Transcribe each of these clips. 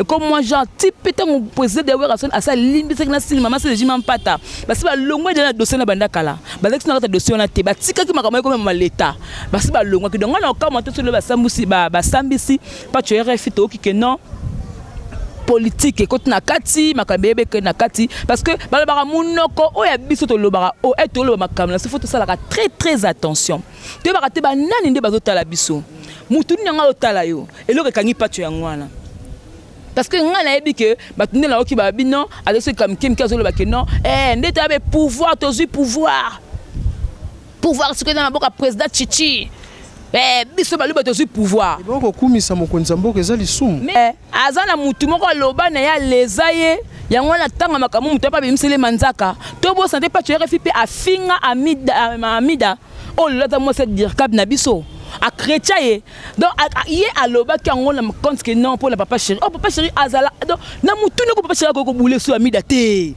Et comme moi, genre, type, peut-être mon président de Werrason, à ça, limbi, c'est que la cinéma, c'est le jimam pata. Parce que le moins de la dossier na banda kala. Parce que notre dossier na te, bah, tika qui m'a comme comme l'État. Parce que le moins que donc on a comment tout le bas sambusi, bah, bah, sambisi, pas tu es refit, ok, que non. politique ekoti na kati makambo eyebe ekei na kati parce que balobaka monoko oyo ya biso tolobaka oyo ete oloba makambo na so fo tosalaka très très attention toyebaka te banani nde bazotala biso motu nini yango azotala yo eloko ekangi pacho yango wana parce que ngai nayebi ke bato nde nayoki babi non azoseka mike mike azoloba ke non eh, nde toyabe pouvoir tozwi pouvoir pouvoir sikoyo eza na boka président chichi eh, biso baluba tozwi pouvoir kokumisa mokonzi ya mboka eza lisumu aza na mutu moko aloba na ye aleza ye yango wana tanga makambo moto ape abimisele manzaka tobosana te pacho rfi mpe afinga amida, amida oyo lelo aza mwasi ya dirkab na biso akretia ye donc ye alobaki yango na compte ke non mpo na papa chéri o oh, papa chéri azala donc na motuni oko papa chéri akoki kobule so amida te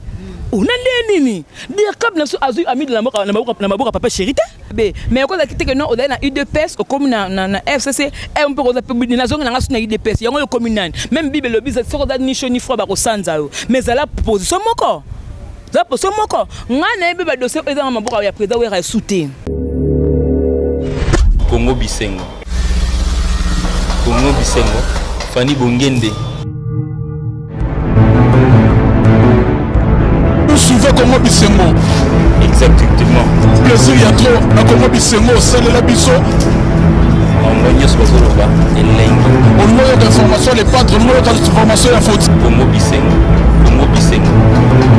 ona oh, nde nini dirkab na biso azwi amida na maboko ya papa chéri te be mais okoza kite que non ozali na udps okomi na, na, na fcc eh, mpe okoza mpe budi nazongi nanga su na udps yango okomi nani meme bible elobi soki oza ni chaud ni froid bakosanza yo mais zala position moko zala position moko ngai nayebi badossier ezanga maboko ya président wera esu te kongo bisengo Congo Bisengo, Fanny Bongende. Vous suivez Congo Bisengo Exactement. Plaisir ya trop na Congo Bisengo osalela biso bango nyonso bazoloba elengi olingi oyoka information ya lepatre olingi oyoka information ya foti kongo bisengo kongo bisengo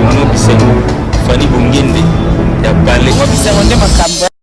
kongo bisengo fani bongende ya bale kongo bisengo nde makambo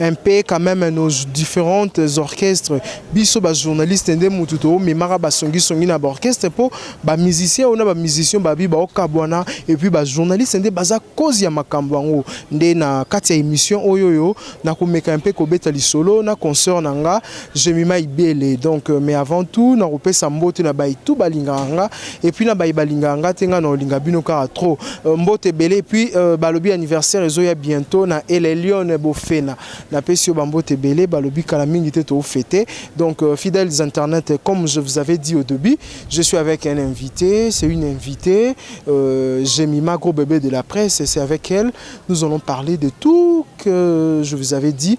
un peu quand meme nos differentes orchestres biso ba journalistes nde mutu to memaka ba songi songi na ba orchestre po ba musiciens ona ba musiciens babi ba okabwana et puis ba journalistes nde baza cause ya makambo yango nde na kati ya emission oyo yo na komeka un peu kobeta lisolo na concert na nga Gemima Ibele donc mais avant tout na kopesa mbote na bayi tout balingaka nga et puis na bayi balingaka nga te nga na olinga bino kaka trop mbote ebele et puis euh, balobi anniversaire ezo ya bientôt na El Elyon Bofena na pesi yo ba mbote ebele balobi kala mingi te to fete donc euh, fidèles internet comme je vous avais dit au début je suis avec un invité c'est une invitée euh, Gemima gros bébé de la presse c'est avec elle nous allons parler de tout que je vous avais dit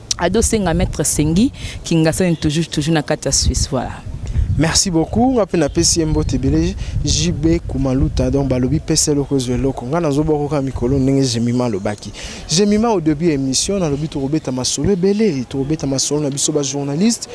Ado senga maître sengi kingasani toujours toujours na kati ya Suisse voilà. Merci beaucoup nga pe na pesi ye mbote ebele JB Kumaluta donc balobi pesa eloko ezwa eloko nga nazobwaka kaka mikolo ndenge Jemima alobaki Jemima au début ya émission nalobi tokobeta masolo ebele tokobeta masolo na biso ba journaliste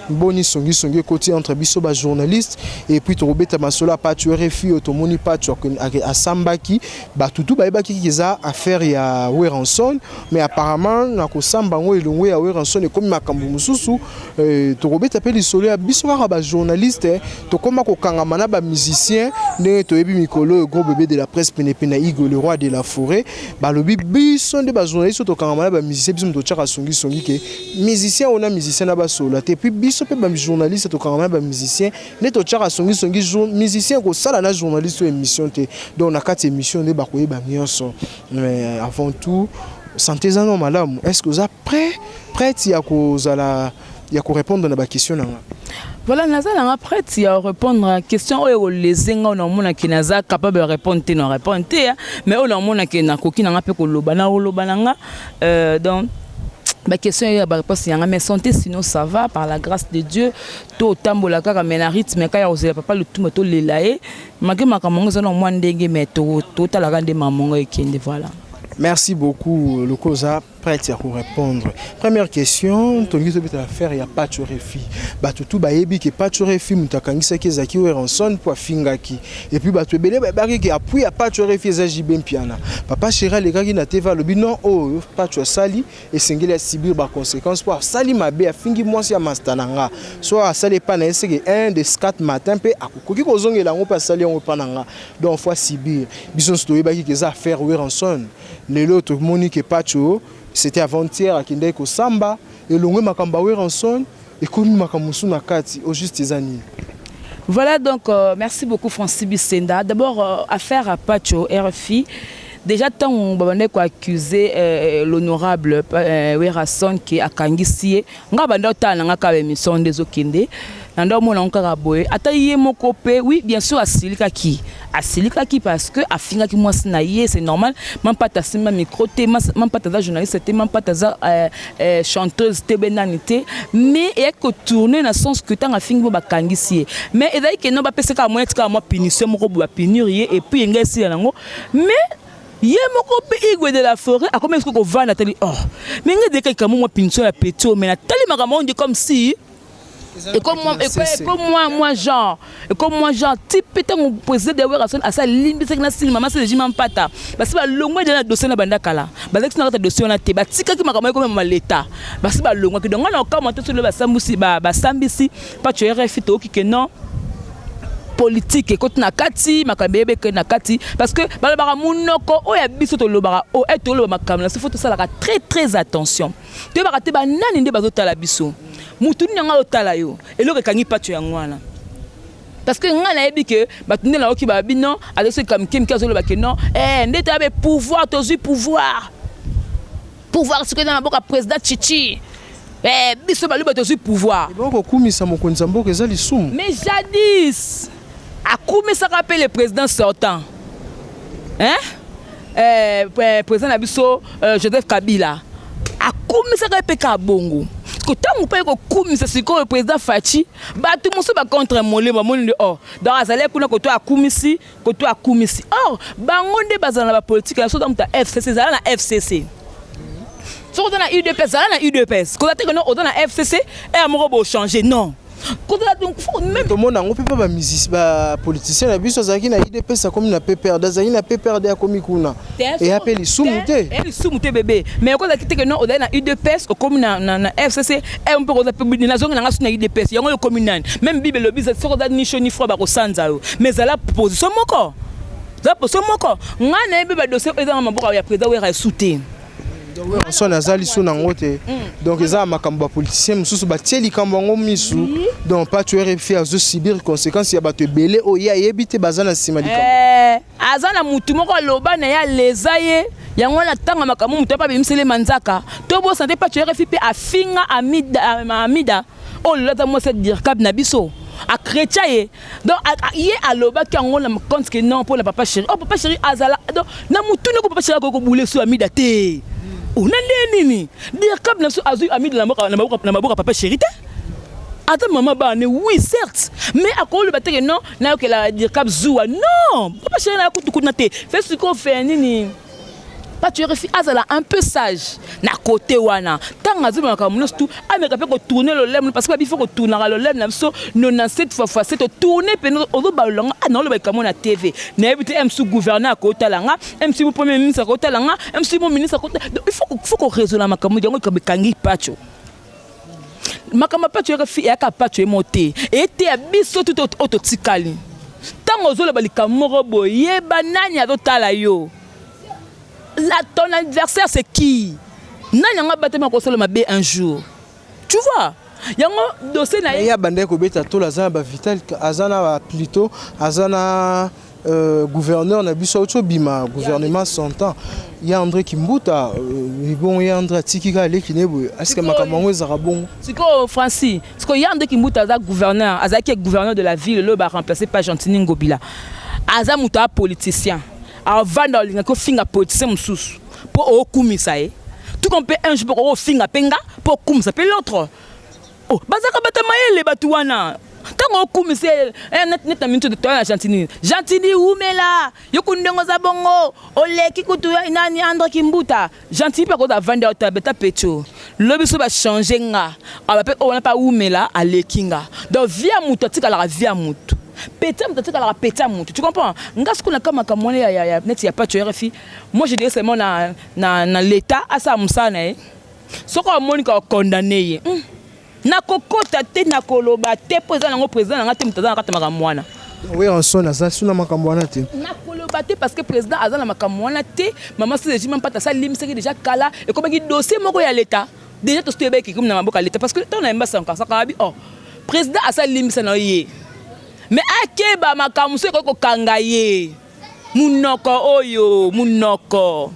boni songi songi ekoti entre biso ba journaliste et puis tokobeta masolo ya Pacho RFI oyo tomoni Pacho asambaki batutu bayebaki eza affaire ya Werrason Mais apparemment na kosamba yango elongo ya Werrason ekomi makambo mosusu eh, tokobeta mpe lisolo ya biso kaka ba journaliste tokoma kokangama na ba musicien ndenge toyebi mikolo oyo gros bebe de la presse penepene na Igo le roi de la forêt balobi biso nde ba journaliste oyo tokangama na ba musicien biso moto totyaka songisongi ke musicien oyo na musicien na basolola te puis biso mpe ba journaliste tokangama na ba musicien nde totyaka songisongi musicien ekosala na journaliste oyo émission te donc na kati émission nde bakoyeba nyonso Mais avant tout, santé eza no malamu. Est-ce que oza prêt, prête ya kozala ya ko répondre na ba questions na nga? Voilà, naza nanga prête ya répondre à question oyo ekolese nga na omona ke naza capable ya répondre te na répondre te hein. mais oyo na omona ke nakoki nanga mpe koloba na koloba nanga euh, donc ba question ya ba réponse yanga mais santé sinon ça va par la grâce de Dieu to tambola kaka mais na rythme kaka ya kozela papa lutumba to lela ye Maki makambo yango eza na mwa ndenge me totalaka nde makambo yango ekende voilà. Merci beaucoup lokoza prête ya ko répondre. Première question, tongi tobeta affaire ya Pacho Refi. Bato tout bayebi ke Pacho Refi moto akangisaki ezaki Werenson mpo afingaki. Et puis bato ebele bayebaki ke appui ya Pacho Refi eza JB Mpiana. Papa Chera alekaki na TV alobi non oyo oh, Pacho asali esengeli a subir ba consequences mpo asali mabe afingi mwasi ya masta na nga so asali epai na ye seke 1 de 4 matin mpe akokoki kozongela yango mpe asali yango epai na nga donc faut asibir biso nyonso toyebaki ke eza affaire Werrason lelo tomoni ke Patsho c'était avant-hier akendaki kosamba elongwe makambo ya Werrason Ekomi makambo mosusu na kati, au juste eza nini? Voilà donc euh, merci beaucoup Francis Bissenda. D'abord euh, affaire à Pacho RFI déjà ntango babandaki koaccuse euh, l'honorable euh, werrason ke akangisi ye ngai banda otala na ngai kaka baémission nde ezokende na nde omona yango kaka boye ata ye moko mpe oui bien sûr asilikaki Asilikaki parce que afingaki mwasi na ye, c'est normal. Mampata asimba micro te, mampata aza journaliste te, mampata aza euh, euh, chanteuse te, be nani te. Mais eyaki ko tourner na sens que tanga fingi bo bakangisi ye. Mais ezali que non ba pesa ka moyen tika mwa punition moko bo ba punir ye et puis engai sila nango. Mais ye moko mpe igwe de la forêt akomi eske kovanda atali oh mais ngai deka likambo mwa punition ya petit oyo mais natali makambo yango nde comme si Et comme moi, et comme moi, moi genre, et comme moi genre, type peut-être mon président de Werrason à sa ligne, c'est que na cinéma, ma c'est le jimam pata. Parce que longue de la dossier na banda kala. Parce que na dossier na te, ba tika ki makamai comme ma l'état. Parce que longue que donc on a encore monté sur le basambusi, ba basambisi, pas tu RFI to qui que non. politique ekoti na kati makambo eyebe ekei na kati parce que balobaka monoko oyo ya biso tolobaka o ete oloba makambo na sifo tosalaka très très attention toyebaka te banani nde bazotala biso motu nini yango azotala yo eloko ekangi paco yango wana parce que ngai nayebi ke bato nde nayoki baba bino azoseka mike mike azoloba ke non eh, nde toyabe pouvoir tozwi pouvoir pouvoir sikoyo eza maboko ya président chichi eh, biso baluba tozwi pouvoir ebongo kokumisa mokonzi ya mboka eza lisumu mais jadis akumisaka mpe le président sortant hein? Eh, eh, président na biso euh, joseph kabila akumisaka ye mpe kaka bongo ntango mpe kokumisa sikoyo président faci bato mosusu bacontre mole bamoni nde or oh, donc azali kuna koto akumisi koto akumisi or oh, bango nde bazala na bapolitike na soki moto ya fcc ezala na fcc soki oza na udps zala na udps kozala te kono oza na fcc ere moko bochange non kozala donc faut même tomona yango mpe mpe bamusisi bapoliticien na biso azalaki na idps akomi na pprd azalaki na pprd akomi kuna eya mpe lisumu te eya lisumu te bebe mais okozalaki teke no ozali na udps okomi na, na, na fcc e eh, mpe okoza mpe nazongi nanga so na udps yango oyo okomi nani meme bible elobi soki oza ni cho ni froid bakosanza yo mais ezala position moko zala position moko ngai nayebi badossier ezanga maboko ya président wera esu te werrason aza liso na yango te mm. donc eza makambo bapoliticien mosusu batie likambo yango misu donc patuer efi azosubir conséquence ya bato ebele oyo ye ayebi te baza na nsima likambo eh, aza na motu moko aloba na ye aleza ye yango wana ntango makambo moto ape abimisele manzaka tobosana te patuer efi mpe afinga amida, amida. oyo oh, lolata mwasi ya dirkab na biso akretia ye donc ye alobaki yango na compte que non mpona papa chéri oh papa chéri azala donc na motuni ko papa chéri akoki kobule so amida te ona oh, nde nini dirkab na biso azwi amida na maboko ya papa chéri te ata mama bane oui certes mais akoloba teke non nayokela dirkab zuwa non papa chéri nayakutukuna te fe sikoyo fe nini pas tu refi azala un peu sage na côté wana tanga azo maka munos tout ameka pe ko tourner le lem parce que bifo ko tourner le lem na biso 97 fois fois 7 tourner pe ozo balola nga na loba kamo na TV na yebi te MC gouverneur ko talanga MC mo premier ministre ko talanga MC mo ministre ko il faut faut ko raisonner makamudi yango kabe kangi pacho makambo apaco yaka apaco ye moko te eteya biso tuto oyo totikali ntango ozoloba likambo moko boye yeba nani azotala yo la ton adversaire c'est qui nani yango abatami akosala mabe un jour tu vois yango dossier na ye abandaki kobeta tolo aza na bavital aza na baplito aza na Euh, gouverneur na biso auti obima gouvernement santan ya andré kimbuta euh, bongo ya andré atiki kaka leki ne boye asika makambo yango ezalaka bongo sikoyo franci sikoyo ya andré kimbuta aza gouverneur azalaki ye gouverneur de la ville loyo baremplace pa gentini ngobila aza moto ya politicien avanda olingaki ofinga politicien mosusu mpo okumisa ye tuka mpe un jour mpe okofinga mpe nga mpo okumisa mpe l'autre Oh, bazaka bata mayele batu wana ntango okumise eh, neti na minute toya na gentini gentini wumela yo kundi ndenge oza bongo oleki kutu eh, nani andre kimbuta gentini mpe akoza avandi awa tabe ta pecho lobi so bachange nga awa mpe oyo wana mpe awumela aleki nga donc vie ya motu atikalaka vie ya motu peta moto atikalaka peta moto tu comprends nga sikoyo na kama makambo wana ya neti ya pacho rfi moi je dirais seulement na, na, na leta asala mosala na ye soki amonika okondane ye hmm. nakokota te nakoloba te mpo eza nango président na ngai te moto aza na kati makambo wana weranson aza suna makambo wana te nakoloba te parce que président aza na makambo wana te mama sezejima mpata asalimisaki deja kala ekomaki dossier moko ya leta deja tosi toyebaki ekomi na maboko ya leta parce que ntango na yemba sankansakabi o oh, président asalimbisa na ye mais akeba makambo mosusu ekoki kokanga ye Munoko oyo munoko.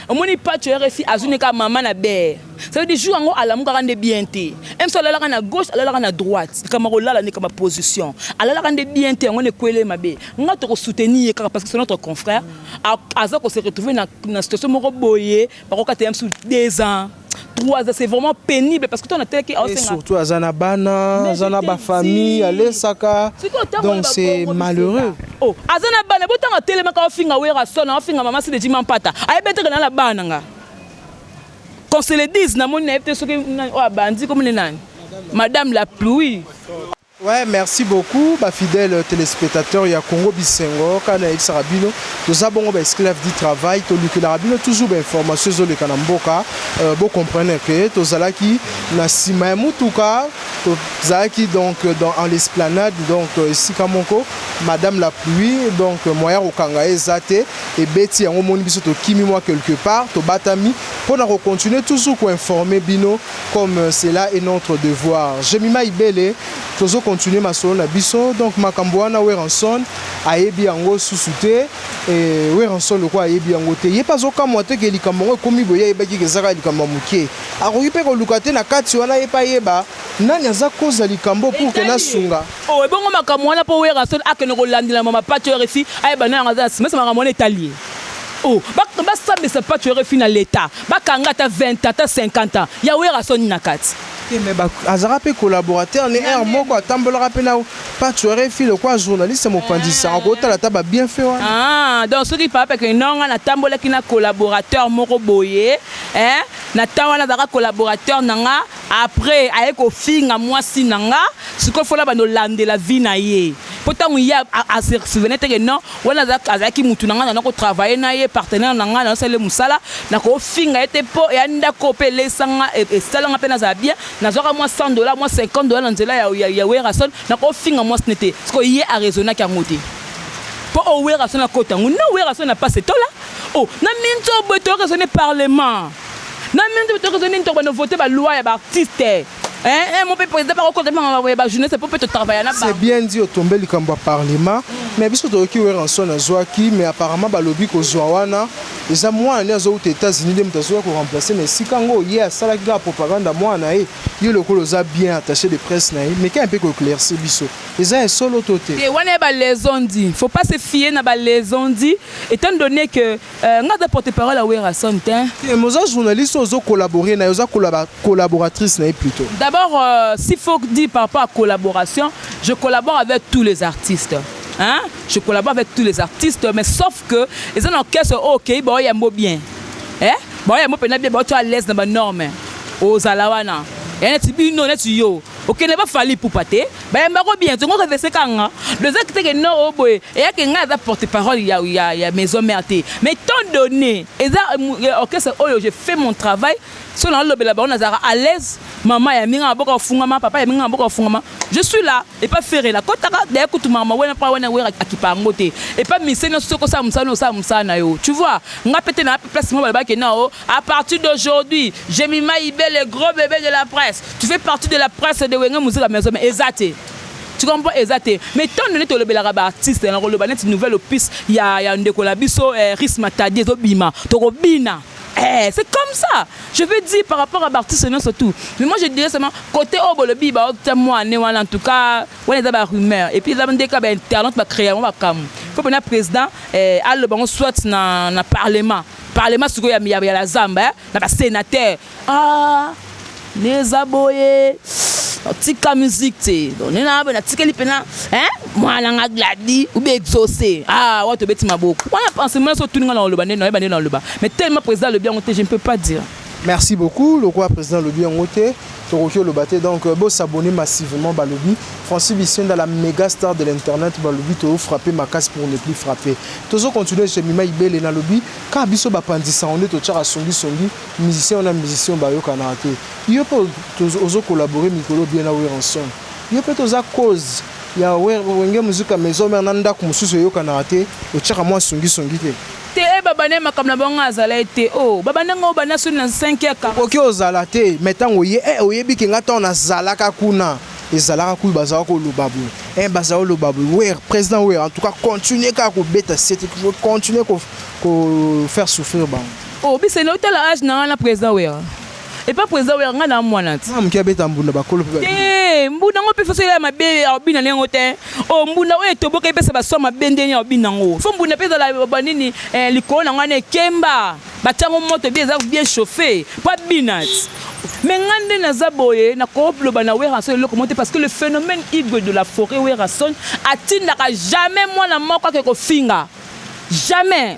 Omoni pacho ya refi azwi ne kaka mama na bee. Ça veut dire jour yango alamukaka nde bien te. Même si alalaka na gauche, alalaka na droite. Likambo ya kolala nde likambo ya position. Alalaka nde bien te yango wana ekweli ye mabe. Nga toko soutenir ye kaka parce que c'est notre confrère. Aza ko se retrouver na situation moko boye, bakokata ye misusu deux ans. 3 ans c'est vraiment pénible parce que toi on a tel qui et surtout azana bana azana ba famille alesaka donc c'est malheureux oh azana bana botanga telema ka ofinga wera sona ofinga mama sidi jima mpata ayebetaka na la bana nga qu'on se le dise na moni na yebte soki oyo abandi komone nani madame la pluie Ouais merci beaucoup ba fidèle telespetateur ya Congo bisengo kaka na yebisaka bino toza bongo ba esclave du travail tolukelaka bino toujours ba information ezoleka na mboka euh, bo comprendre que tozalaki na sima ya mutuka tozalaki donc dans en l'esplanade donc esika moko madame la pluie donc moyen kokanga eza te ebeti yango moni biso tokimi mwa quelque part tobatami mpo na kocontinue toujours koinforme bino comme cela est notre devoir Gemima Ibele tozo continuer masolo na biso donc makambo wana Werrason ayebi yango susu te eh, Werrason lokola ayebi yango te ye mpe azokamwa te ke likambo yango ekomi boye ayebaki ke ezaka likambo ya moke akoki mpe koluka te na kati wana ye mpe ayeba nani aza koza likambo pour que nasunga oh ebongo makambo wana mpo Werrason akende kolandela mama pato rfi ayeba nani yango aza na sima ese makambo wana etali ye Oh, ba, ba sambisa pacho refi na leta, ba kanga ata 20 ans, ata 50 ans, ya wera soni na kati. te me azalaka mpe collaborateur ne heure moko atambolaka mpe na pacho refi lokola journaliste mopanzisa akotala ata ba bienfait wana ah, donc soki papa ke nonga natambolaki na collaborateur moko boye eh, na temps wana azalaka collaborateur na nga Après aye kofinga mwasi na nga sikoyo faut nabanda olandela vie na ye po ntango ye a se souvenait te que non wana azalaki mutu na nga nana ko travailler na ye partenaire na nga nana sala ye musala nakofinga ye te po eya ndako oyo pe eleisa nga esala nga pe nazala bien nazwaka mwa 100 dollars mwa 50 dollars na nzela ya Werrason nakofinga mwasi ne te sikoyo ye a raisonnaki yango te po oyo Werrason akota yango non Werrason na pasi etola oh na minzobo etola raisonner parlement Na mino nzobe tokezo nini tokobanda vote ba loi ya ba artiste hein eh mope president bako kota mpe makambo ya ba journaliste mpo mpe to travailler na bango. C'est bien dit otombe likambo ya parlement mais biso toyoki Werrason azuaki mais apparemment balobi kozua wana eza mwana nde azo wuta etats unis nde moto azoya ko remplacer na esika ngo ye asalaki kaka propagande ya mwana na ye yo lokola oza bien attache de presse na ye meka mpe ko eclaircir biso eza ya solo to te. Te wana ya ba les on dit faut pas se fier na ba les on dit etant donne que Euh, nga aza porte parole ya Werrason te. Te mais oza journaliste ozo collaborer na oza collab collaboratrice na ye plutôt. D'abord euh, s'il faut dire par rapport à collaboration, je collabore avec tous les artistes. Hein? Je collabore avec tous les artistes mais sauf que ils ont orchestre oh, OK, ba oya mbo bien. Eh? Ba oya mbo pena bien, ba tu à l'aise na ba normes. Ozala wana. Ya neti bino neti yo. Okende ba fali poupa te. Bayamba ko bien tongo revese kanga doza kiteke no o boye eyake nga aza porte parole ya ya ya maison mère te mais tant donné eza orchestre oyo je fais mon travail so na lobela bango nazaka à l'aise maman ya minga maboka ofungama papa ya minga maboka ofungama je suis là et pas ferre la kotaka d'ailleurs kutumaka ma wena pa wena wera akipa yango te et pas mise no soko sa musana osa musana yo tu vois nga pete na place mo balabaki na o A partir d'aujourd'hui, Jemima Ibe, le gros bébé de la presse. Tu fais partie de la presse de Wenge Musica Maison, mais ezate. Tu comprends ezate. Mais tant donné to lobelaka ba artistes, na ko loba net nouvelle opus ya ya ndeko la biso eh, Ris Matadi to bima, to ko bina. Eh, c'est comme ça. Je veux dire par rapport à Bartis et surtout. Mais moi je dirais seulement côté Obolobi ba octa moi né en tout cas, on est ba rumeur et puis là on dit qu'à internet ba créer on va comme. Faut que le président eh, aille le bango soit na na parlement. Parlement sikoyo ya ya la zamba hein na ba senateur ah ne eza boye tika musique te donc ne na natikeli pena hein mwana nga gladi ou bien exaucé ah wa tobeti maboko wana pensement so tuninga na oloba nde na yeba nde na oloba mais tellement président le bien te je ne peux pas dire Merci beaucoup lokola president alobi yango te tokoki oloba te donc bo s'abonner massivement balobi Francis Bisenda la mega star de l'internet balobi to frapper makasi pour ne plus frapper tozo continuer chez Mima Ibele nalobi ka biso bapanzi sango nde totiaka songi songi musicien wana musicien bayokanaka te yo mpe tozo- ozo collaborer mikolo bien na Werenson yo mpe toza cause ya Wer- wenge muzika maison mère na ndako mosusu eyokanaka te otiaka mwa songi songi te Te eh ba banda makambo na bango nga nazala ye te oh ba banda nga o banda soni na cinq ya ka. Okoki ozala te mais tango oye eh oyebi ke nga tango na zalaka kuna ezalaka kutu ba zalaka koloba boye eh ba zalaka koloba boye werra president werra en tout cas continuer kaka ko beta sete continuer ko faire souffrir bango. Oh Biseni otala age na nga na president werra? Epa president oya nga na mwana ti. Mwana muke abeta mbunda bakolo pe ba. Te mbunda ngo pe faso ya mabe ya obina nengo te. O oh, mbunda oyo etoboka epesa ba soma bende ni obina ngo. Fo mbunda pe ezala ba nini eh, likolo na ngwana ekemba. Batiango moto bien eza bien chauffe. Pa binat. Mais nga nde naza boye nakoloba na Werrason eloko mote parce que le phénomène Igwe de la forêt Werrason atindaka jamais mwana moko ake kofinga. Jamais!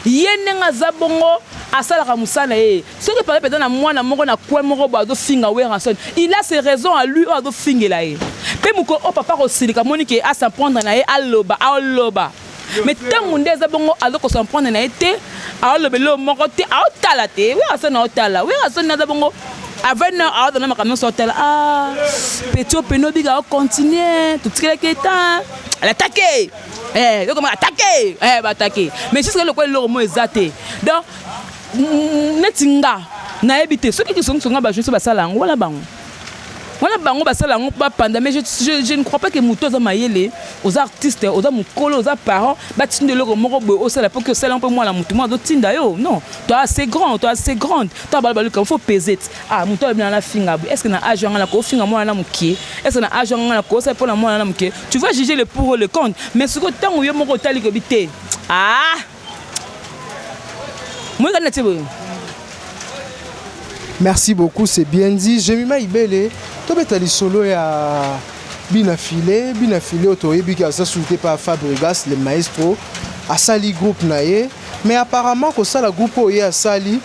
Ye ndenge aza bongo asalaka musala na ye. Soki par exemple eza na mwana moko na coin moko boye azo finga Werrason, il a ses raisons à lui oyo azo fingela ye. Pe mokolo oyo papa ako silika amoni que a s'en prendre na ye aloba, aloba. Mais tangu nde eza bongo azo ko s'en prendre na ye te, azo loba eloko moko te, azo tala te. Werrason azo tala, Werrason aza bongo à 20 heures azo zala makambo nionso azo tala. Ah! Petit oyo pene obika o continuer, to tikelaki ye temps hein. Alataki! eh yo koma attaquer eh ba attaquer mais jusqu'à lokola eloko mo eza te donc neti nga nayebi te soki kisongiso nga bajournaliste basala yango wana bango wana bango basala yango bapanda mais je, je, je ne crois pas que moto aza mayele oza artiste oza mokolo oza parent batinda eloko moko boye osala mpo ke osala mpe mwana moto mwana azotinda yo non to assez grand to assez grande to abala baluka fo pese ti ah moto alobi nanga nafinga boye estce na age yanga nakofinga mwana na mokie estce na age yanga nakosa mpo na mwana na mokie Tu vas juger le pour ou le contre, mais ce que tango yo moko otali kobi te. Ah! Moi kana tse boyo. Merci beaucoup, c'est bien dit. Jemima Ibele, tobeta lisolo ya bina filet, bina filet otoyebi ki aza souté par Fabregas le maestro, asali groupe na ye. Mais apparemment kosala groupe oyo ye asali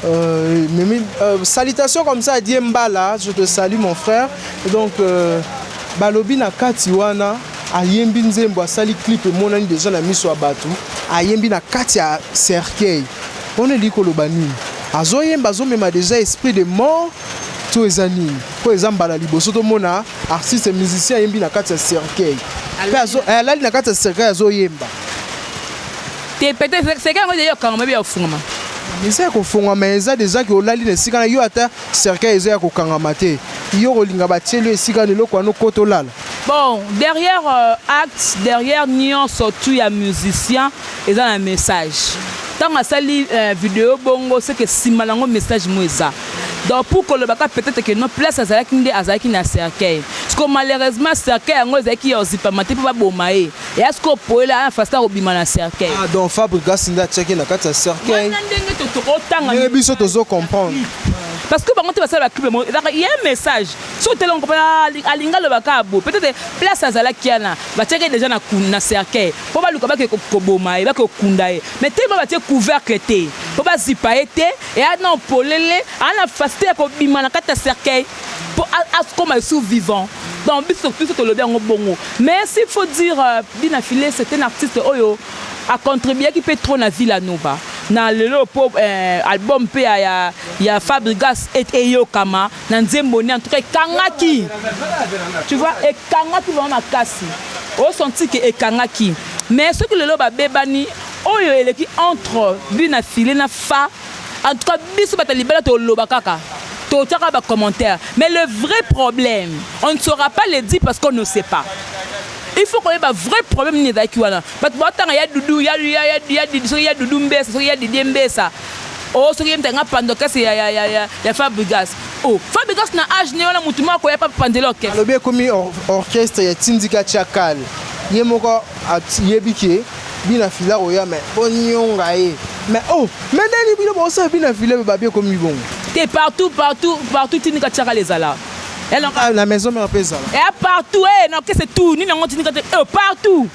euh, mimi, euh, salutation comme ça adie mbala je te salue mon frère donc euh, balobi na kati wana ayembi nzembo asali clip emonani deja na miso ya bato ayembi na kati ya cercueil wana elingi koloba nini azoyemba azomema deja esprit de mort to eza nini mpo eza mbala liboso tomona artiste musicien ayembi na kati ya cercueil mpe alali na kati ya cercueil azoyemba te pete seke yango ezali ya kokangama ebe ya kofungama eza ya kofungama eza deja ke olali na esika na yo ata cercueil eza ya kokangama te yo kolinga batieli yo esika na eloko wana okota olala bon derrière euh, acte derrière nyonso tu ya musicien eza na message ntango asali euh, video bongo seke nsima nango message mo eza donc pour koloba ka peut-être que non place azalaki nde azalaki na cercueil siko malheureusement cercueil yango ezalaki ya ozipama te mpo baboma ye Ya sikoyo poela aya fasta kobima na cercueil. Ah donc Fabrigas nde atiaki na kati ya cercueil. Wana ndenge to tokotanga. Ndenge biso tozo comprendre. Parce que bango te basala ba clip bango ezaka ye message so tele on comprend ah, alinga loba ka bo peut-être place azalaki yana batiaki déjà na na cercueil po baluka bake koboma ye bake kokunda ye mais tellement batie couvercle te po bazipa ye te eya na polele ana facilité ya kobima na kati ya cercueil po akoma lisusu vivant donc biso biso tolobi yango bongo mais s'il faut dire euh, Dina Filet c'est un artiste oyo acontribuaki mpe trop na Villa Nova na lelo mpo eh, album mpe ya, ya, ya Fabrigas et eyokama na nzembo ne en tout cas ekangaki tu vois ekangaki vraiment makasi osanti ke ekangaki mais soki lelo babebani oyo eleki entre Dina Filet na Fa En tout cas biso bata libala toloba kaka totia kaka ba commentaire mais le vrai problème on ne saura pas le dire parce qu'on ne sait pas il faut koyeba vrai problème nini ezalaki wana bato batanga ya dudu ya, ya, ya, ya, ya, soki ya dudu mbesa soki ya didie mbesa o oh, soki ye mtanga pando kese ya, ya, ya, ya, ya fabrigas o oh, fabrigas na age ne wana motu moko ya papa pandela orchestre alobi ekomi orchestre ya tindika chakal ye moko ayebi ke Bina fila oya mais bo nionga ye. Mais oh, mais nani bino bo sa bina fila ba bie komi bongo. Te partout partout partout tini ka chaka les ala. Elle en ah, la maison mère pe zala. Et eh, partout eh non qu'est-ce tout ni nango tini ka te oh, partout.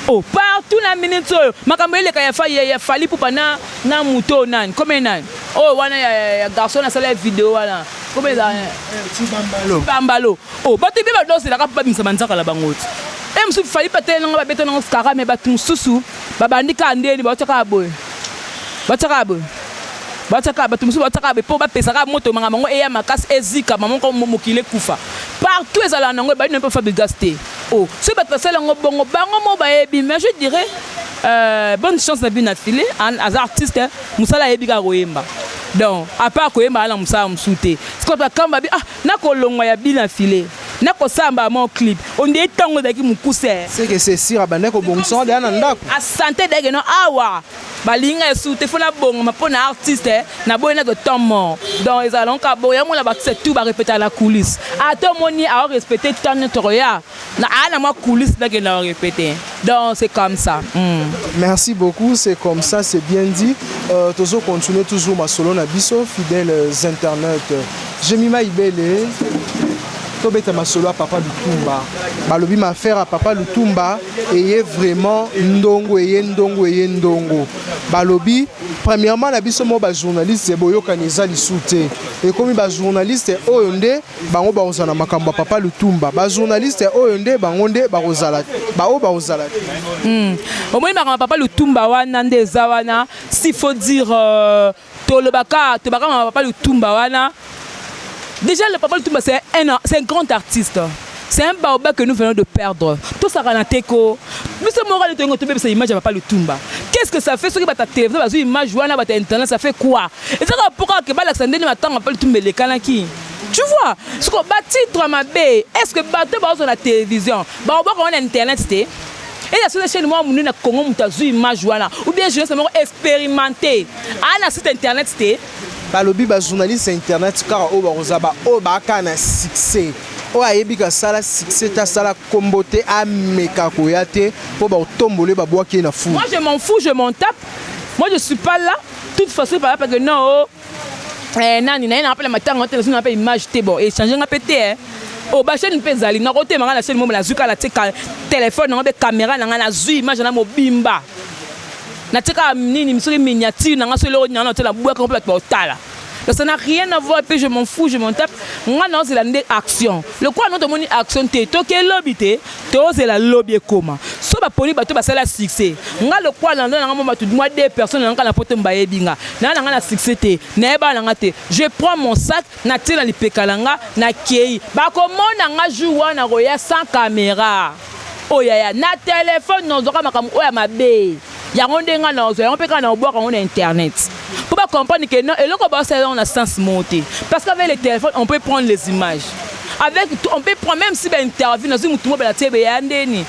Oh, partout na minute oyo makambo eleka ya fali ya fali pupa na na moto nani comme nani oh wana ya, ya garçon asala video wana comme eza eh, eh, bambalo Oh batu ebele bato bazelaka mpo babimisa manzaka na bango te e mosusu fali mpe ateleli nanga babeta nango skara me bato mosusu babandi kaka ndeni bauta kaka boye bauta kaka boye bauta kaka bato mosusu bauta kaka boye mpo bapesa kaka moto manga bango eya makasi ezikama moko mokili ekufa partout ezalaka nango ebandi na mpe fabrigas te o oh, soki bato basala yango bongo bango moko bayebi mais je dirais euh, bonne chance na bino na file aza artiste mosala ayebi kaka koyemba donc apart koyemba ana mosala mosusu te sikoyo bakamba bi ah Nako longwa ya Bill na filet nako sala mbala moko clip on dirait tangu ezalaki mukuse. Ce que c'est sur abandaki ko bongisa ngo dejà na ndaku. A sentait dejà que non awa ba lingi nga lisusu te faut na bongama po na artiste na boyi nazo temps mort donc ezalaka ngo kaka bongo yango omona ba artiste tout ba repetaka na coulisse ata omoni azo respecter temps nioso toko ya Na aya na mwa coulisse na kenda ko repeter. Donc c'est comme ça. Hum. Merci beaucoup, c'est comme ça, c'est bien dit. Euh, tozo continuer toujours masolo na biso, fidèles internautes. Jemima Ibele, tobeta masolo ya papa lutumba balobi maaffaire ya papa lutumba eye vraiment ndongo eye ndongo eye ndongo balobi premièrement na biso moko bajournaliste boyokani eza lisu te ekomi bajournaliste oyo nde Bango bakozala na makambo ya papa Lutumba. Ba journaliste oyo nde bango nde bakozala ba oyo bakozala te. Mm. Omoni makambo ya papa Lutumba wana nde eza wana s'il faut dire euh, tolobaka tobaka makambo ya papa Lutumba wana. Déjà le papa Lutumba c'est un c'est un grand artiste. C'est un baoba que nous venons de perdre. Tout ça kana teko. Biso moko le tongo tobebisa image ya papa Lutumba. Qu'est-ce que ça fait soki bata télévision bazui image wana bata internet ça fait quoi? Ezaka pourquoi que balakisa ndenge matanga papa Lutumba elekanaki. Tu vois, ce qu'on bat titre ma B, est-ce que bateau bah on a télévision, bah on voit qu'on a internet c'était. Et la seule chaîne moi mounu na Congo mutazu image wana ou bien je sais pas expérimenté. Ah na site internet c'était. balobi bajournaliste ya internet kaka oyo bakoza baoyo baaka na succès oyo ayebi kasala succès te asala nkombo te ameka koya te mpo bakotombole babwaki ye na fou moi je m'en fous je m'en tape moi je suis pas là toute façon par exemple que non oh, eh, nani naye nanga pela matanga ote nazwi nanga pe image te bon echange nga pe te eh. o oh, basheni mpe ezali nakotema nga na sheni momo nazwi kaka natika telefone nango mpe kamera na nga nazwi image na mobimba natika nini soki miniature na nga soki eloko nanga na otela bwaka mpe bato baotala Donc ça n'a rien à voir, puis je m'en fous, je m'en tape. Nga na ozela nde action. Le quoi non tomoni action te, to ke lobite, Tozela lobi ekoma. Soki ba poni bato basala succès. Nga lokola na ndoa na nga mwa bato mwa deux personnes na nga kaka na poto mbayebi nga. Naza na nga na succès te. Naye bana na nga te. Je prends mon sac na tie na lipeka na nga na keyi. Bako mona nga jour wana nako ya sans camera. Oyo yaya na telephone nozwaka makambo oyo ya mabe. Yango nde nga nazo yango pe kaka na obwaka yango na internet po ba comprendre que non eloko ba sala na sens moko te parce qu'avec le telephone on peut prendre les images avec on peut prendre même si ba interview na zui mutu mo bala tebe ya ndeni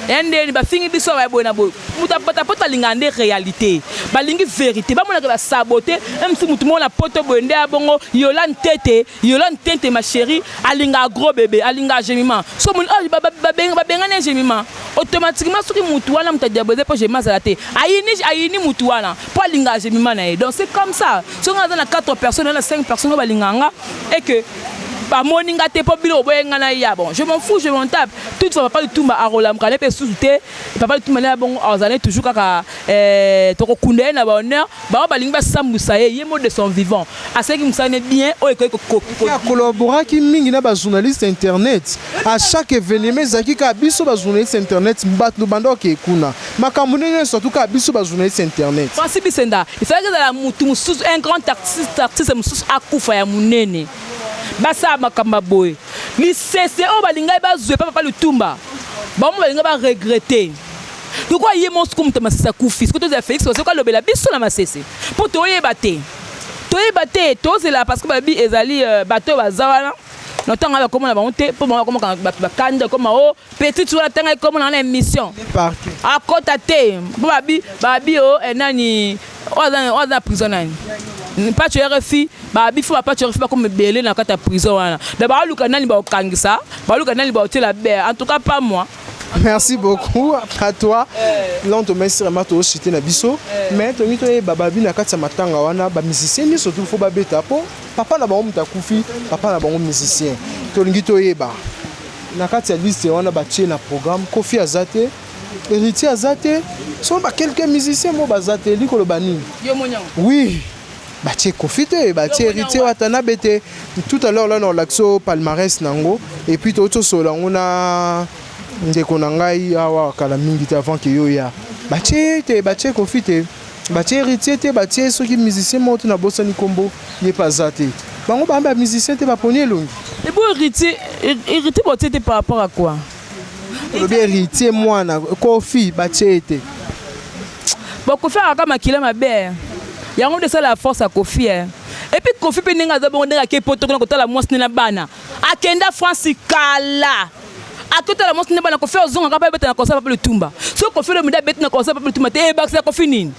ya ndeni ba fingi biso ba boye na boye mutu apata poto alinga nde réalité balingi vérité ba mona que ba sabote même si mutu mo na poto boye nde abongo Yolande tete Yolande Tente ma chérie alinga gros bébé alinga gemima so moni oh, ba, ba, ba, ba, bengani gemima automatiquement soki mutu wana mutu adiabolize po gemima azala te ayini ayini mutu wana po alinga gemima na ye donc c'est comme ça soki aza na 4 personnes na 5 personnes oyo balinga nga et que bamoni nga te mpo bino boboye nga na ya bon je m'en fous je m'en tape toute fois papa lutumba akolamuka na mpe susu te papa lutumba na ya bongo azali toujours kaka eh, tokokunda ye na bahonneur Bango balingi basambwisa ye, ye mode de son vivant asalaki mosala ne bien oyo ekoki ko. Mpe a collaboraki mingi na ba journalistes ya internet, a chaque evenement ezalaki kaka biso ba journalistes ya internet bato banda kokee kuna, makambo ndenge nionso surtout kaka biso ba journalistes ya internet. Francis Bisenda, il fallaki ezala mutu mosusu, un grand artiste, artiste mosusu akufa ya monene, basala makambo ya boye, lisese oyo balingaki bazwa epai ya Papa Lutumba, bango mpe balinga ba regretter. Lokola ye moko soko moto masese akufi, soko tozela Felix Faso ko alobela biso na masese mpo toyeba te toyeba te tozela parce que babi ezali euh, bato baza wana na ntango wana bakomona bango te mpo bango bakomaka bato bakanda ekoma o oh, petit wana ntanga ekomona wana émission akota ah, te mpo babi babi o oh, eh, nani oyo aza na prison nani mpaco rfi babi fo bapaco rfi bakoma ebele na kati ya prison wana me baoluka nani baokangisa baoluka nani baotyela bea en tout cas pas moi Merci beaucoup à toi. Eh. Là on te met sur ma to cité na biso. Eh. Mais to ngi to e baba bi na kati ya matanga wana ba musiciens ni surtout faut ba beta po papa na bango mutakufi papa na bango musicien. To ngi to e ba na kati ya liste wana ba tie na programme Kofi Azate héritier aza te soki ba quelques musiciens mo baza te elikoloba nini oui Batie koffi te batie heritier watanabe te tout à l'heure là nakolakisa yo palmarès na yango et puis touti tosolola yango na ndeko na ngai awa kala mingi te avant ke yo ya batie ye te batie koffi te batie héritier te batie soki musicien moko te nabosani nkombo ye mpe aza te bango baa bamusicien te baponi elongi ebo héritier héritier batie te par rapport à quoi olobi heritier mwana kofi batie ye te bon kofi akaka makila mabe eh. yango nde esala ya force ya kofi eh. epuis kofi mpe ndenge aza bongo ndenge akei poto kuna kotala mwasi nde na bana akenda france kala akotala mwasi nde bana kofi ozongaka mpe abeta na concert papa lutumba soki kofi olomide abeti na concert papa lutumba te ebakisa eh, kofi nini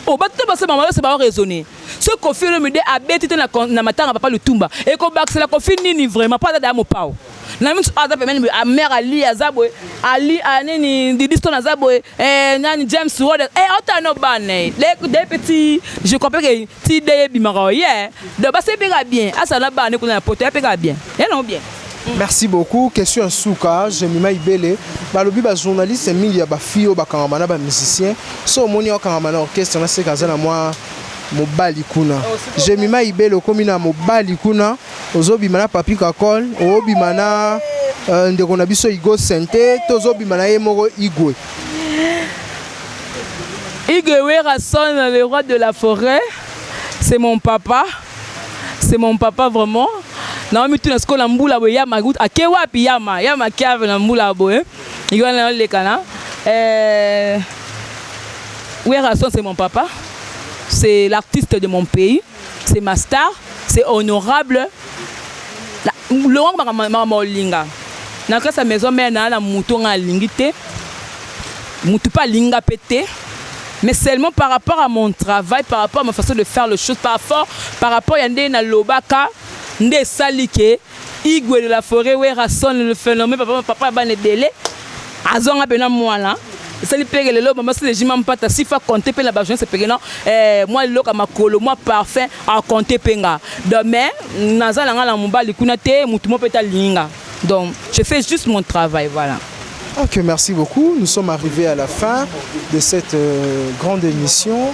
obatuta oh, basema bayose bao raisonne soki kofi olomide abeti te na matanga papa lutumba ekobakisela kofi nini vraiment mpo aza daya mopao na misu aza pembeni boye amère ali aza boye ali ah, nini didiston aza boye eh, nani james wode eh, ota no bana eh. de petit je comprends que ti de ebimaka oye donc basi epeka bien asa na bana kuna na poto epeka bien yanango bien mm. merci beaucoup question ya suka jemima ibele balobi bajournaliste mingi ya bafille oyo bakangama na bamusicien so omoni akangama na orchestre naseka aza na mwa mobali kuna oh, jemima ibele okomi na mobali kuna Ozo bima na Papy Kakol, ozo bima na euh, ndeko na biso Igo Sente, tozo bima na ye moko Igwe. Igwe Werrason, le roi de la forêt, c'est mon papa. C'est mon papa vraiment. Naomi tuna sikoyo na mbula boye yama ake wapi yama yama kiave na mbula boye yo wana yolekana euh, Werrason c'est mon papa c'est l'artiste de mon pays c'est ma star c'est honorable longo makambo olinga na classe ya maison mère naa na moto ngai alingi te moto mpe alingi ngai mpe te mais seulement par rapport à mon travail par rapport à ma façon de faire le chose par rapport par rapport ya nde nalobaka nde esali ke Igwe de la foret werra son le phenomène papa papa ya bana ebele azwa nga pena mwana esali pege lelo mama sile jima mpata sifa compte pe na ba journaliste pege non eh mwa liloka makolo mwa parfum a compte pe nga donc mais naza na nga na mobali kuna te mutu mo pe ta linga donc je fais juste mon travail voilà Ok, merci beaucoup. Nous sommes arrivés à la fin de cette euh, grande émission.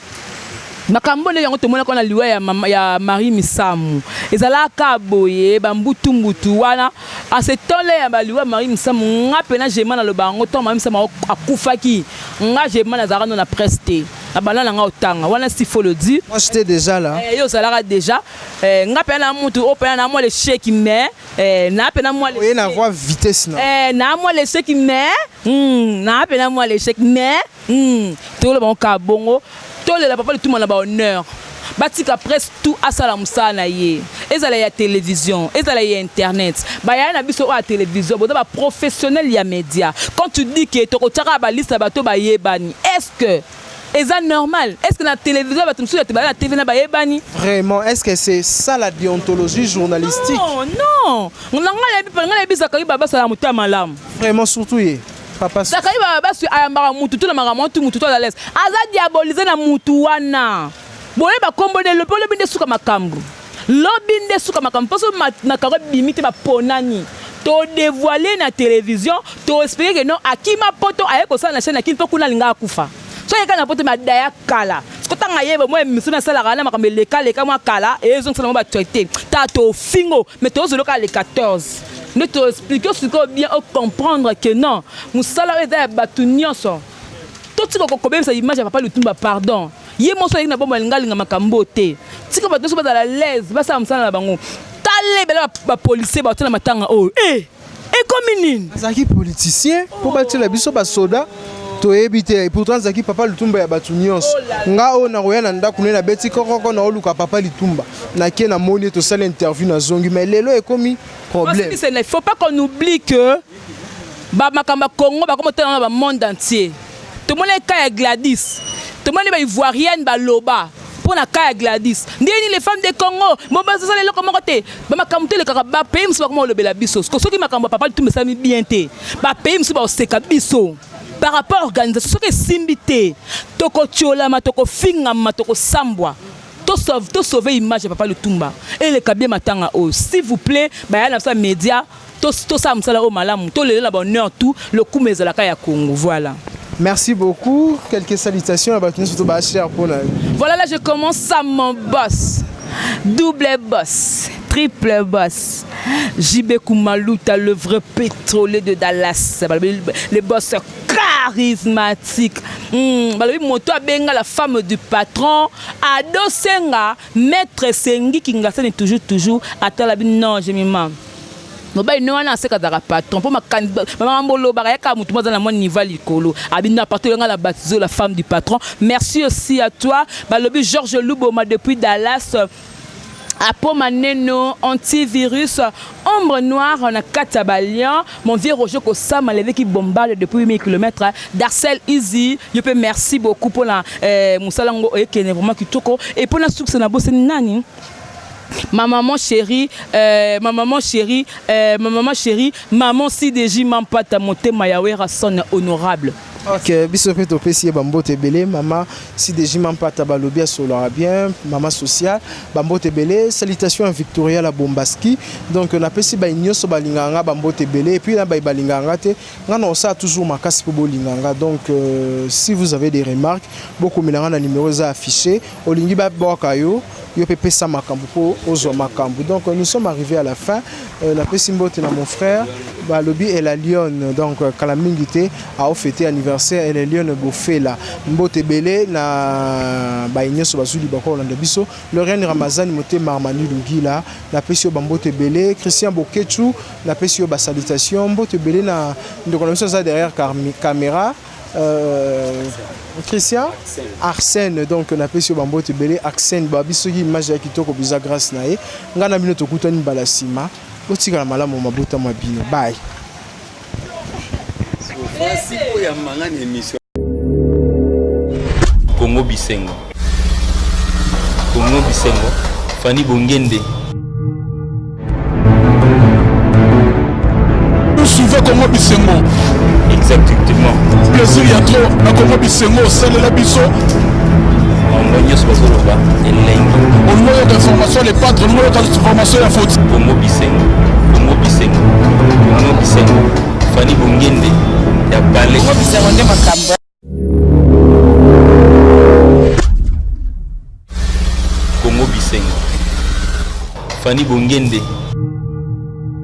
Makambo oyo nde yango tomonaki wana liwa ya, ya Marie Misamu. Ezalaka kaka boye, ba mbutu mbutu wana. En ce temps là ya ba liwa Marie Misamu, nga pena Gemma naloba yango, ntango Marie Misamu akufaki, nga Gemma nazalaka no na presse te. Na banda na nga otanga, wana s'il faut le dire. Moi j'etais dejà là. Eh, yo ozalaka dejà. Eh, nga pena na mutu, o pena na mwa l'échec, mais, eh, na pena mwa l'échec. Oye na voix vitesse na. Eh, na mwa l'échec, mais, hmm, na pena mwa l'échec, mais, Hum toyola bango kaka bongo tolela papa lituma na ba honneur batika presse tout asala mosala na ye ezala ya television ezala ya internet bayaya na biso oyo ya television boza ba professionnel ya media quand tu dis que tokotiaka ba liste ya bato bayebani est ce que eza normal est ce que na television bato mosusu ete baza na tv na bayebani vraiment est ce que c'est ça la déontologie journalistique non non nga nayebi nga nayebi zakari babasala motema malamu vraiment surtout ye Papa Sakali ba basu ayambaka mutu to na makambo tu mutu to à l'aise. Aza diaboliser na mutu wana. Boye ba kombo de lobi lobi nde suka makambo. Lobi nde suka makambo poso makambo bimi te ba ponani. To devoiler na television to expliquer que non akima poto aye ko sala na chaîne akini po kuna linga akufa. So yeka na poto madaya kala. Ko tanga yeba moi emission na sala kana makambo leka leka moi kala ezo sala moi ba traiter. Ta to fingo mais tozo loka le 14 nde to explique sikoyo bien o comprendre que non mosala oyo eza ya bato nyonso totika kokobebisa image ya papa lutumba pardon ye moso ayeki na bombo alinga alinga makambo te tika bato nyonso bazala laise basala mosala na bango tala ebele bapolisier baotia na matanga oyo e eh! ekomi nini azalaki politicien mpo batiela biso basoda toyebi te et pourtant azalaki papa litumba ya bato nyonso oh nga oyo nakoya na ndako na ye nabeti kokoko naoluka papa litumba nake namoni ye tosali interview nazongi mais lelo ekomi problème il faut pas qu'on oublie que bamakambo ya congo bakoma otala na bamonde entier Tomonaki cas ya Gladys. Tomoni ba ivoirienne ba loba pona cas ya Gladys. Ndenge nini les femmes de Congo bo bazo sala eloko moko te. Ba makambo to elekaka ba pays musu ba koma olobela biso. Siko soki makambo ya papa Lutumba esalami bien te. Ba pays musu ba oseka biso. Par rapport organisation soki esimbi te toko tiolama toko fingama toko sambwa. To sauve to sauve image ya papa Lutumba. Eleka bien matanga oyo. S'il vous plait ba ya na biso ya media Tosala mosala oyo malamu, tolela na bonheur tout, lokumu ezala kaka ya Congo. Voilà. Merci beaucoup. Quelques salutations à Batunus Tobachia pour la. Voilà, là je commence à mon boss. Double boss, triple boss. JB Kumaluta, le vrai pétrolier de Dallas. Le boss charismatique. Hmm, balobi moto abenga la femme du patron ado senga maître sengi kingasani toujours toujours atalabi non je mimame mobali ne wana aseka azalaka patron mpo makambo olobaka yaka motu mo aza na mwa niveau likolo abinda patron yanga na batizo la femme du patron merci aussi à toi balobi georges luboma depuis dallas apo maneno antivirus ombre noire na kati ya balion mon vieux roger kosama leveki bombale depuis 8000 km darcel easy yo mpe merci beaucoup mpona eh, mosala yango oyekende vraiment kitoko e mpo na sukisa na bosani nani ma maman chérie euh, ma maman chérie euh, ma maman chérie maman CDJ Mampata motema ya Werrason honorable ok biso mpe topesi ye bambote ebele mama CDJ Mampata balobi asolaka bien mama sociale bambote ebele salutation ya Victoria la Bombaski donc napesi bayi nyonso balingaka nga bambote ebele epuis na bayi balingaka nga te nga na osala toujours makasi mpo bolinga nga donc euh, si vous avez des remarques bokomela nga na numero eza affiché Olingi ba bwaka yo yo pe pesa makambo po ozwa makambo donc nous sommes arrivés à la fin euh, na pesi mbote na mon frère balobi elle a lionne donc euh, kala mingi te ao fete anniversaire elle a lionne bofela mbote belé na baye nyonso bazwi libaka kolanda biso loriane ramazani motema armani lugila na pesi yo bambote belé christian bokechu na pesi yo basalutation mbote belé na ndeko na biso aza derrière caméra Euh, Christian Arsène donc napesi yo bambote ebele Arsène babi soki image ya kitoko biza grâce na ye ngai na bino tokutani mbala nsima botikala malamu mabota mwa bino baye Congo Bisengo Congo Bisengo, Fanny Bongende. Vous suivez Congo Bisengo Exactement. Plaisir ya trop na Congo Bisengo osalela biso bango nyonso bazoloba elengi olingo yoka information le patre olingo yoka information ya foti bongo bisengo bongo bisengo bongo bisengo fani bongende ya bale bongo bisengo nde makambo Congo Bisengo Fanny Bongende